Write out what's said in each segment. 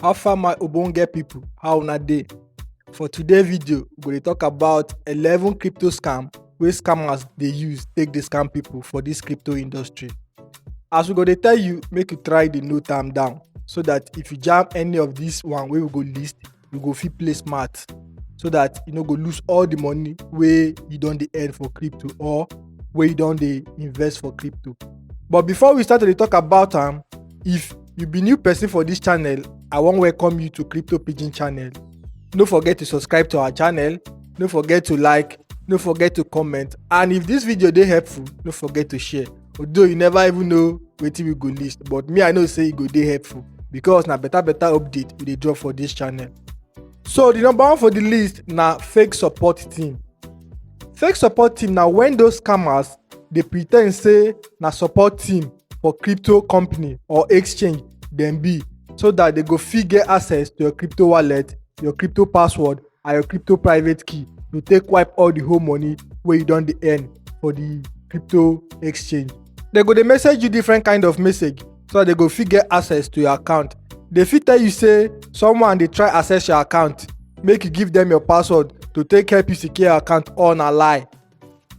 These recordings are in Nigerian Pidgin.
how far my ogbonge people how una dey for today video we go dey talk about 11 crypto scam wey scammers dey use take dey scam people for this crypto industry as we go dey tell you make you try dey note am down so that if you jam any of this one wey we go list you go fit play smart so that you no go lose all the money wey you don dey earn for crypto or wey you don dey invest for crypto but before we start to dey talk about am if you be new person for this channel i wan welcome you to crypto pidgin channel no forget to subscribe to our channel no forget to like no forget to comment and if this video dey helpful no forget to share although you never even know wetin we go list but me i know say e go dey helpful because na better better update we dey drop for this channel so the number one for the list na fake support team fake support team na when those scammers dey pretend say na support team for crypto company or exchange dem be so that they go fit get access to your crypto wallet your crypto password and your crypto private key to take wipe all the whole money wey you don dey earn for the crypto exchange dem go dey message you different kind of message so that dem go fit get access to your account dem fit tell you say someone dey try access your account make you give dem your password to take help you secure your account all na lie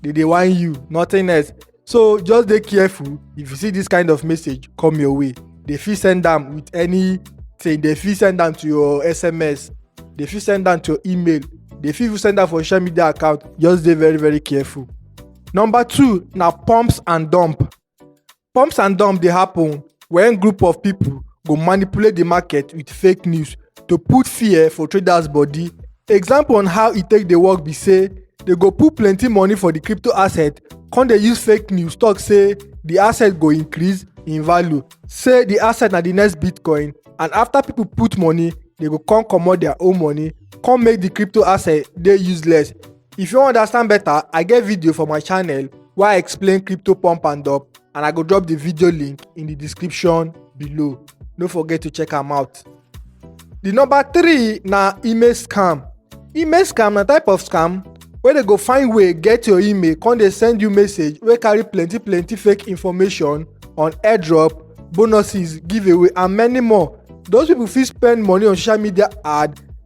they dey whine you nothing else so just dey careful if you see this kind of message come your way they fit send am with anything they fit send am to your sms they fit send am to your email they fit even send am for social media account just dey very very careful number two na pumps and dump Pumps and dumps dey happen when group of people go manipulate the market with fake news to put fear for traders body. Example on how e take dey work be say they go put plenty money for the crypto asset come dey use fake news talk say the asset go increase in value say the asset na the next bitcoin and after people put money they go come comot their own money come make the crypto asset dey useless If you wan understand better, I get video for my channel wey I explain crypto pump and dump and I go drop the video link in the description below. No forget to check am out. The number three na email scam. Email scam na type of scam wey dey go find way get your email come dey send you message wey carry plenty plenty fake information on airdrop, bonuses, giveaway and many more. Those people fit spend money on social media ad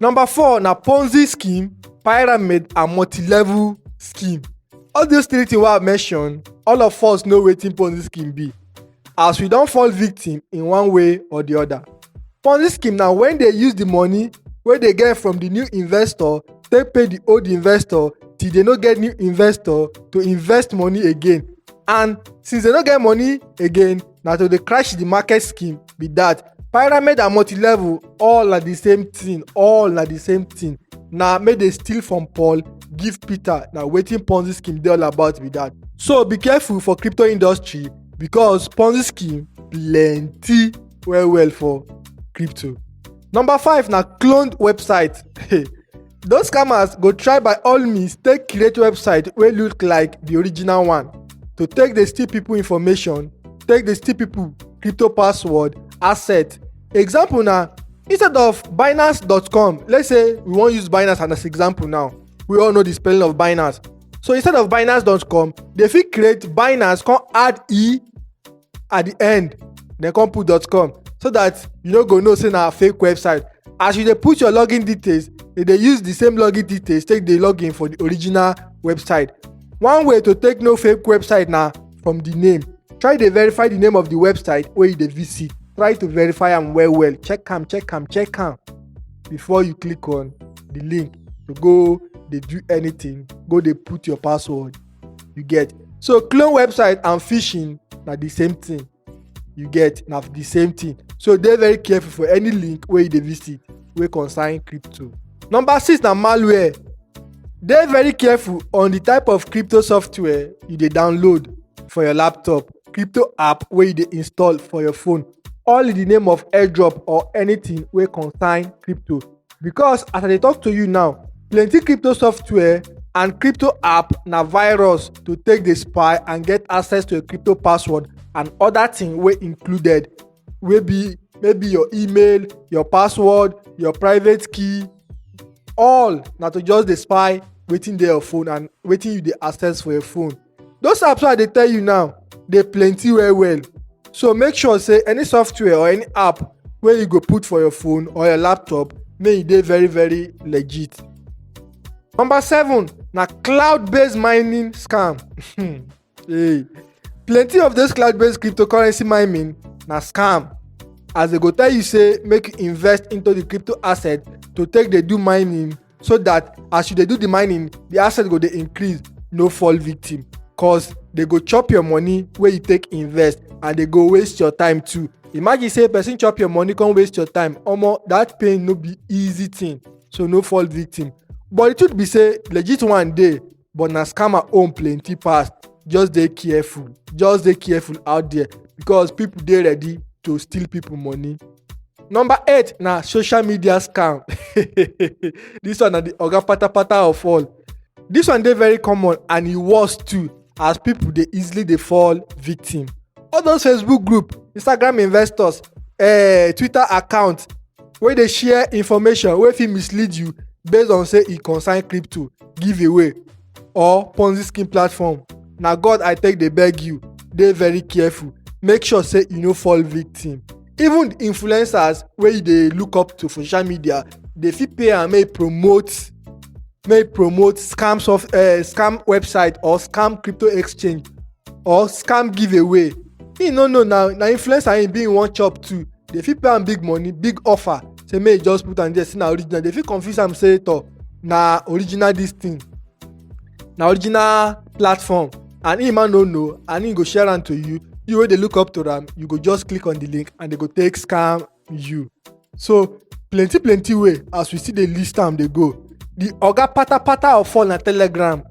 Number four na Ponzi scheme, pyramid and multi-level scheme. All those three things wey I mention, all of us know wetin Ponzi scheme be as we don fall victim in one way or the other. Ponzi scheme na when they use the money wey they get from the new investor take pay the old investor till they no get new investor to invest money again and since they no get money again na to dey crash the market scheme be that pyramid and multi-level all na the same thing all na the same thing na make dey steal from paul give peter na wetin ponzi scheme dey all about be that so be careful for crypto industry because ponzi scheme plenty well well for crypto number five na cloned website Those scammers go try by all means take create website wey look like the original one to take dey steal people information, take dey steal people crypto password, asset. Example na instead of binance.com, let's say we wan use binance as example now, we all know the spelling of binance. So instead of binance.com, dey fit create binance come add e at the end then come put dot com so that you no go know say na fake website as you dey put your login details they dey use the same login details take dey log in for the original website one way to take know fake website na from the name try dey verify the name of the website wey you dey visit try to verify am well well check am check am check am before you click on the link to go dey do anything go dey put your password you get so clone website and phishing na the same thing you get na the same thing so dey very careful for any link wey you dey visit wey concern crypto number six na malware dey very careful on the type of crypto software you dey download for your laptop crypto app wey you dey install for your phone all in the name of airdrop or anything wey concern crypto because as i dey talk to you now plenty crypto software and crypto app na virus to take dey spy and get access to your crypto password and other thing wey included wey be maybe your email your password your private key all na to just dey spy wetin dey your phone and wetin you dey access for your phone those apps wey i dey tell you now dey plenty well well so make sure say any software or any app wey you go put for your phone or your laptop make e dey very very legit. number seven na cloud based mining scam hey. plenty of those cloud based cryptocurrency mining na scam as they go tell you say make you invest into the crypto asset to take dey do mining so that as you dey do the mining the asset go dey increase no fall victim cause they go chop your money wey you take invest and they go waste your time too imagine say person chop your money come waste your time omo that pain no be easy thing so no fall victim but the truth be say legit one dey but na scammer own plenty pass just dey careful just dey careful out there because people dey ready to steal people money. number eight na social media scam this one na the oga patapata of all this one dey very common and e worse too as people dey easily dey fall victim all those facebook group instagram investors uh, twitter account wey dey share information wey fit mislead you based on say e concern crypto giveaway or ponzi scheme platform na god i take dey beg you dey very careful make sure say you no fall victim even influencers wey you dey look up to for social media dey fit pay am make e promote make e promote scam soft uh, scam website or scam crypto exchange or scam giveaway he no know na na influencer he be he wan chop too dey fit pay am big money big offer say make you just put am there say na original they fit confuse am say to na original this thing na original platform and him man no know and him go share am to you you wey dey look up to am you go just click on the link and they go take scam you so plenty plenty way as we still dey list am dey go the oga patapata of fall na telegram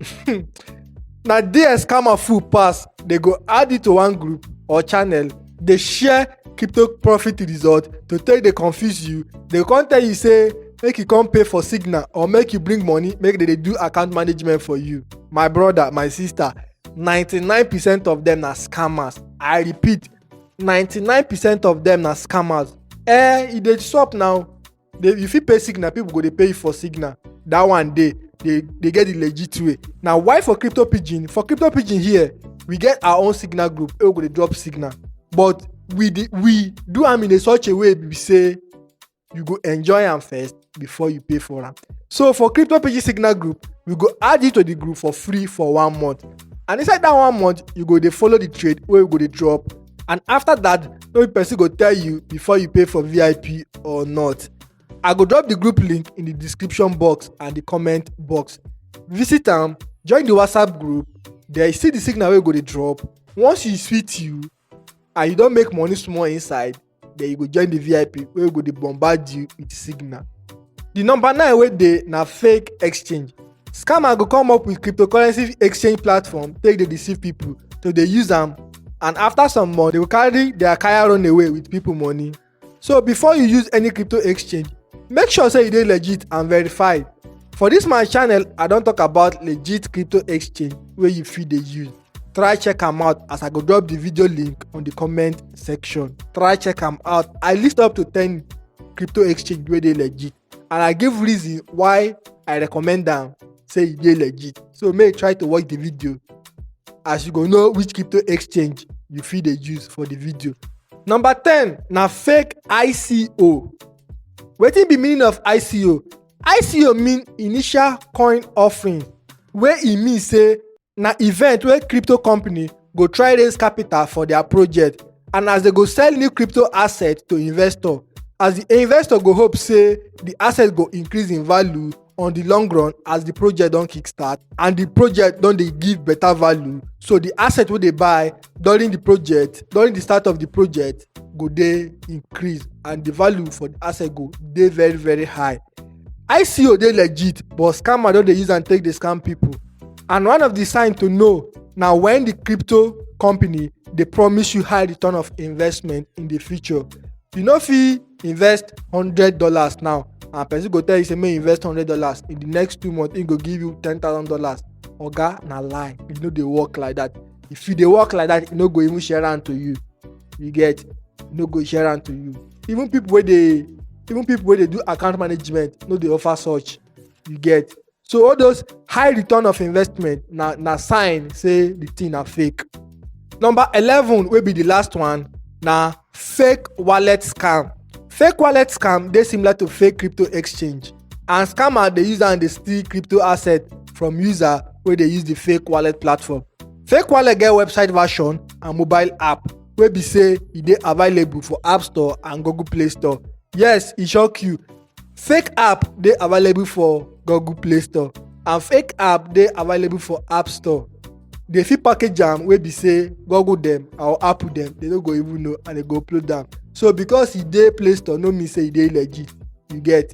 na there scammer full pass they go add it to one group or channel dey share crypto profit result to take dey confuse you dey come tell you say make you come pay for signal or make you bring money make they dey do account management for you my brother my sister 99 percent of them na scammers i repeat 99 percent of them na scammers eh e dey sup now They, you fit pay signal, people go dey pay you for signal. That one day, they, they get the legit way. Now, why for crypto pigeon? For crypto pigeon here, we get our own signal group. We go dey drop signal, but we dey, we do am in a such a way we say you go enjoy am first before you pay for am. So for crypto pigeon signal group, we go add you to the group for free for one month. And inside that one month, you go dey follow the trade wey we go dey drop and after that no be person go tell you before you pay for vip or not i go drop the group link in the description box and the comment box visit am join the whatsapp group there you see the signal wey go dey drop once e sweet you and you don make money small inside then you go join the vip wey go dey bombard you with signal The number nine wey dey na fake exchange. Scammer go come up with cryptocurrency exchange platform take dey deceive people to dey use am and after some month they go carry their kaya run away with people money. So before you use any crypto exchange, make sure say you dey legit and verified. For this my channel, I don talk about legit crypto exchange wey you fit dey use. try check am out as i go drop the video link on the comment section try check am out i list up to 10 crypto exchange wey dey legit and i give reason why i recommend am say e dey legit so make you try to watch the video as you go know which crypto exchange you fit dey use for the video number ten na fake ico wetin be meaning of ico ico mean initial coin offering wey e mean say na event wey crypto company go try raise capital for their project and as they go sell new crypto asset to investor as the investor go hope say the asset go increase in value on the long run as the project don kickstart and the project don dey give better value so the asset wey dey buy during the project during the start of the project go dey increase and the value for the asset go dey very very high ico dey legit but scammer don dey use am take dey scam people and one of the sign to know na when the crypto company dey promise you high return of investment in the future you no fit invest hundred dollars now and person go tell you say make you invest hundred dollars in the next two months he go give you ten thousand dollars oga na lie e no dey work like that if you dey work like that e no go even share am to you you get e no go share am to you even people wey dey even people wey dey do account management no dey offer such you get so all those high return of investment na na sign say the thing na fake number eleven wey be the last one na Fake wallet scam. Fake wallet scam dey similar to fake crypto exchange and scammer dey use am dey steal crypto asset from user wey dey use the fake wallet platform. Fake wallet get website version and mobile app wey be say e dey available for App Store and Google Play Store. Yes, e shock you. Fake app dey available for Google Play Store and fake app dey available for App Store. Dey fit package am wey be say Google dem or Apple dem dey no go even know and dey go upload am. So because e dey Play Store no mean say e dey legit, you get?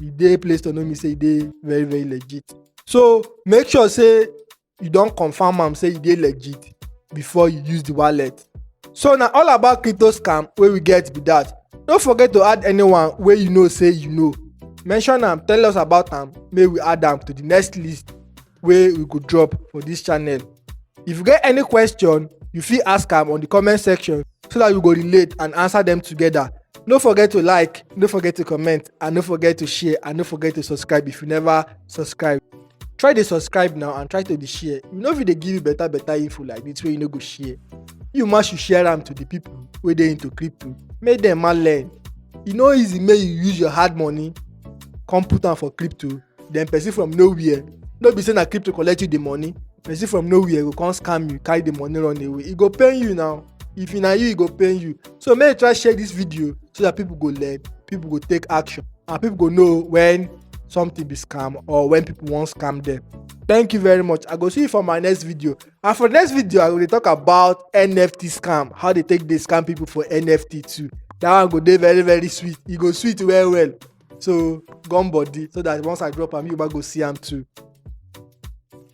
E dey Play Store no mean say e dey very very legit. So make sure say you don confirm am say e dey legit before you use the wallet so na all about crypto scam wey we get be that no forget to add anyone wey you know say you know mention am tell us about am make we add am to the next list wey we go drop for this channel if you get any question you fit ask am on the comment section so that we go relate and answer them together no forget to like no forget to comment and no forget to share and no forget to subscribe if you never subscribe try dey subscribe now and try to dey share we no fit dey give you better better info like this wey you no go share you ma should share am to the people wey dey into crypto make dem ma learn e no easy make you use your hard money come put am for crypto then person from nowhere no be say na crypto collect you the money person from nowhere go come scam you carry the money run away e go pain you now if na you e go pain you so make you try share this video so that people go learn people go take action and people go know when something be scam or when people wan scam them thank you very much i go see you for my next video and for the next video i go dey talk about nft scam how they take dey scam people for nft too that one go dey very very sweet e go sweet well well so gum body so that once i drop am you go see am too